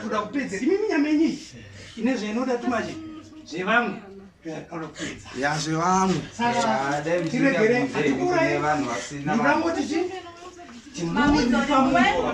Toda kupedza imi minyama yenyu iyi ine zvainoda tumaje zvevamwe ya zvevamwe tiregere atikurai ndingangoti chii timuiaaa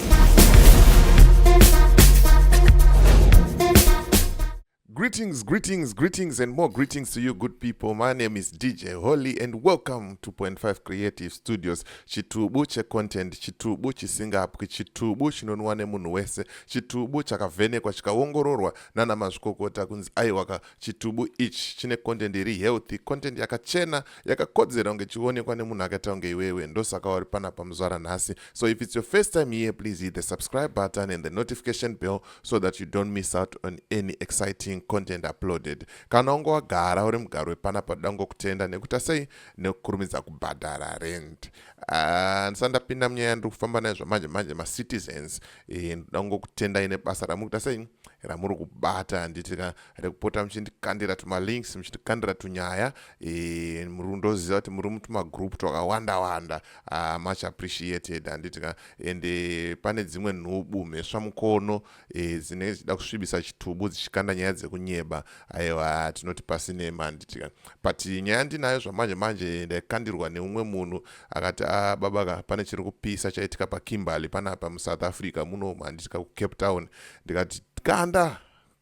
Greetings, greetings, greetings, and more greetings to you, good people. My name is DJ Holly, and welcome to Point Five Creative Studios. Chitubu che content, chitubu chisingapwi, chitubu chinonwa nemunhu wese, chitubu chakavhenekwa chikaongororwa nana mazvikokota kunzi aiwaka Chitubu ichi chine content iri healthy, content yakachena, yakakodzera kunge chionekwa nemunhu akaita kunge iwewe. Ndosaka wari panapa muzvara nhasi. So if it's your first time here, please hit the subscribe button and the notification bell so that you don't miss out on any exciting content uploaded. Kana wanga wagara uri mugaro wepanapa toda kutenda nekuta sei nekukurumidza kubhadhara rent. Ah, ndisati ndapinda munyaya yandiri kufamba nayo zvamanje manje macitizens, eh, ndoda kutenda ine basa ramuri kuita sei ramuri kubata handiti ka rekupota muchindikandira tumalinks muchindikandira tunyaya e, muri kundoziva kuti muri mutumagroup twakawanda wanda uh, much appreciated handiti ka ende eh, pane dzimwe nhubu mhesva mukono e, dzinenge dzichida kusvibisa chitubu dzichikanda nyaya dzekunyeba aiwa tinoti pasinema handiti ka but nyaya ndinayo zvamanje manje ndaikandirwa neumwe munhu akati a ah, baba ka pane chiri kupisa chaitika pakimberly panapa musouth africa muno handiti ka kucape town ndikati kanda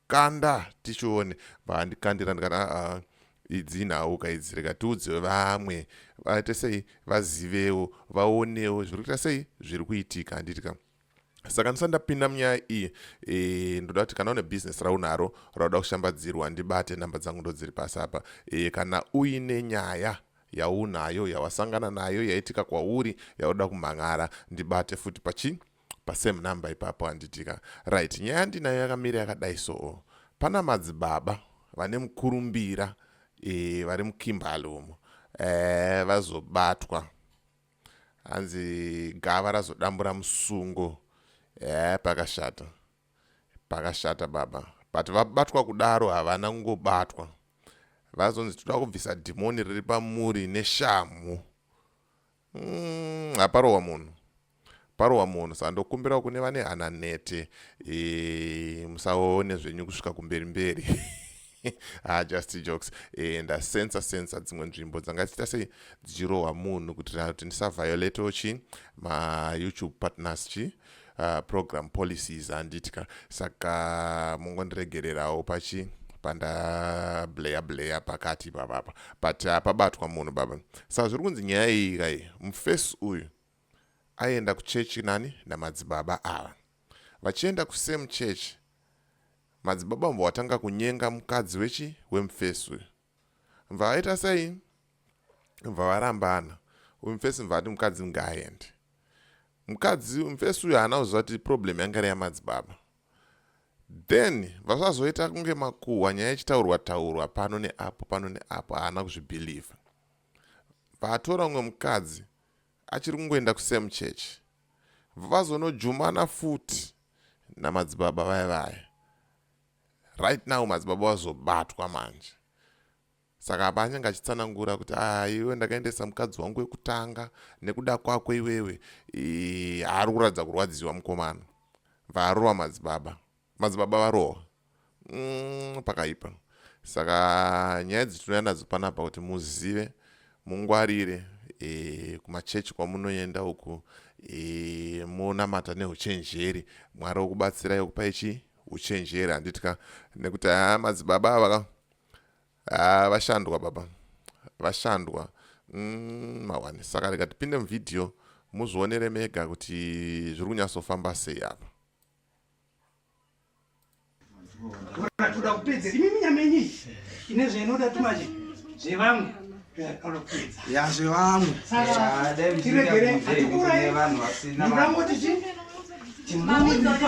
kanda tichione vaandikandira ndikati aa ah, ah, idzi nhau ka idzi rega tiudze vamwe vaite sei vazivewo vaonewo zviri kuita sei zviri kuitika handiti ka saka ndisati ndapinda munyaya iyi e, ndoda kuti kana une bhizinesi raunaro rauda kushambadzirwa ndibate nhamba dzangu ndodziri pasi apa e, kana uine nyaya yaunayo yawasangana nayo yaitika kwauri yauda kumhan'ara ndibate futi pachi pasame number ipapo handitika right nyaya ndinayo yakamira yakadai soo pana madzibaba vane mukurumbira e, vari mukimbalumo e, vazobatwa hanzi gava razodambura musungo eh, pakashata pakashata baba but vabatwa kudaro havana kungobatwa vazonzi toda kubvisa dhimoni riri pamuri neshamhu mm, haparohwa munhu Parohwa munhu sa ndokumbirawo kune vane hana nete e, musaone zvenyu kusvika kumberi mberi ha just jokes e, ndasensa sensa dzimwe nzvimbo dzanga dzichiita sei dzichirohwa munhu kuitira kuti ndisaviolatowo chi mayoutube partners chi uh, program policies handitika saka mungondiregererawo pachi pandableya bleya pakati ipapapa but hapabatwa munhu baba saka zviri kunzi nyaya iyi kai mufesi uyu aienda kuchechi nani namadzibaba ava vachienda kusame church madzibaba mva watanga kunyenga mukadzi wechi wemufesi uyu mva vaita sei mva varambana uyu mufesi mva ati mukadzi ngaaende mukadzi mufesi uyu haana kuziva kuti problem yanga iri yamadzibaba then vazvazoita kunge makuhwa nyaya ichitaurwa taurwa pano neapo pano neapo haana kuzvibhilivha vaatora umwe mukadzi achiri kungoenda kusame church vazonojumana futi namadzibaba vaya vaya right now madzibaba vazobatwa manje saka apa anyange achitsanangura kuti ah, iwe ndakaendesa mukadzi wangu wekutanga nekuda kwako iwewe haari kuratidza kurwadziwa mukomana vaarova madzibaba Madzibaba varohwa. Mm, pakaipa. Saka nyaya dzitinouya nadzo panapa kuti muzive mungwarire e, kumachechi kwamunoenda uku e, monamata neuchenjeri mwari wokubatsirai okupai chii uchenjeri handiti ka nekuti haa madzibaba ava ka haa vashandwa baba vashandwa mm, mawani saka rega tipinde muvhidhiyo muzvionere mega kuti zviri kunyatsofamba sei apa toda kupedza imi minyama yenyu iyi ine zvainoda tumanje zvevamwe ya zvevamwe tiregere hatikurai ndingangoti chii timuiaaaa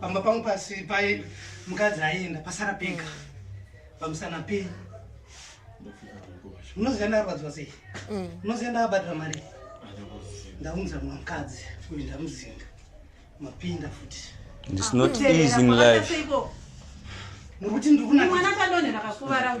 pamba pangu pasi pai mukadzi aienda pasara pega pamusana penyu unoziva ndarwadziwa sei mm. unoziva ndakabhadhira mari ndaunza mumwe mukadzi uyu ndamuzinga mapinda futi ndisnot easing life muri kuti ndiri kunamwana kandonhera kakuvara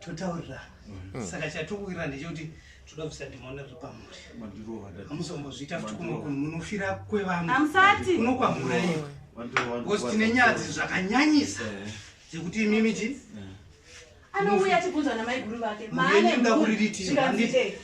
totaurira mm. saka chatokuwira ndechekuti toda kubvisa dhimoni riri pamuri hamuzombozviita futi kumwe kunhu munofira kwevamwe unokwamura iwe because tine nyadzi zvakanyanyisa eh. dzekuti imimi ti eh. anouya tibvunzwa namaiguru vake maanekuririti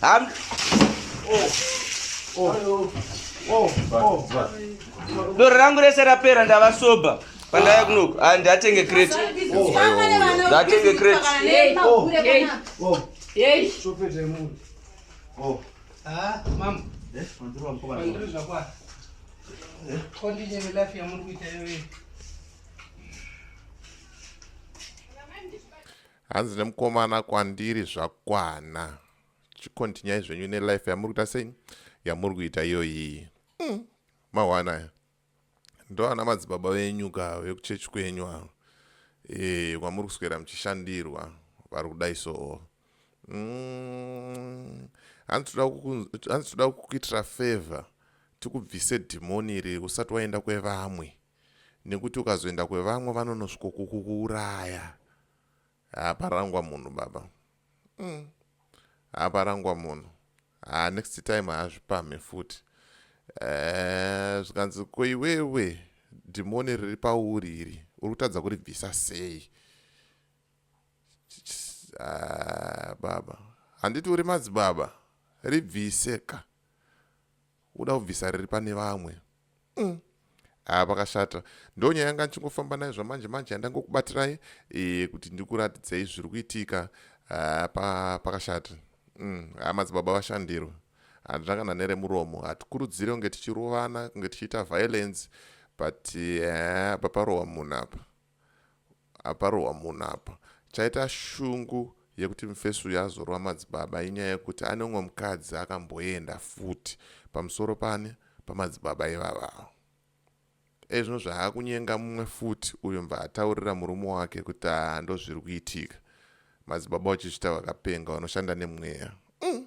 Ham oh. Oh. Oh. Oh. Doro rangu rese rapera ndava sober pandaya kunoku ah, ndatenge crate ndatenge crate hanzi nemukomana kwandiri zvakwana chikontinyai zvenyu nelife yamuri kuita sei yamuri kuita iyoyii mm. mawana aya ndoana madzibaba venyu ka vekuchechi kwenyu avo e, kwamuri kuswera muchishandirwa vari kudai soo mm. hanzi toda kukuitira favor tikubvise dhimoni iri usati waenda kwevamwe nekuti ukazoenda kwevamwe vanonosvikokukuuraya haaparangwa munhu baba mm. haaparangwa munhu haa ah, next time haazvipamhe futi eh, zvikanzi ko iwewe dhimoni riri pauri iri uri kutadza kuribvisa sei ah, baba handiti uri madzibaba ribvise ka uda kubvisa riri pane vamwe mm. Ah, pakashata ndo nyaya yanga ndichingofamba nayo zvamanje manje yandangokubatirai e, kuti ndikuratidzei zviri kuitika ah, pa, pakashata mm. ah, madzibaba vashandirwa handina kana neremuromo hatikurudzire kunge tichirovana kunge tichiita violence but eh, paparohwa munhu apa Aparohwa munhu apa. Chaita shungu yekuti mfesi uyu azorowa madzibaba inyaya yekuti ane umwe mukadzi akamboenda futi pamusoro paani pamadzibaba ivava ava. Dai zvino zvaakunyenga mumwe futi uyo mva ataurira murume wake kuti haa ndozviri kuitika. Madzibaba uchizvita vakapenga vanoshanda nemweya. Mm.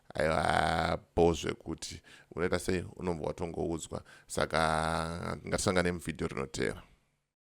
aiwa bho zvekuti unoita sei unobva watongoudzwa saka ngatisangane muvhidhiyo rinoteera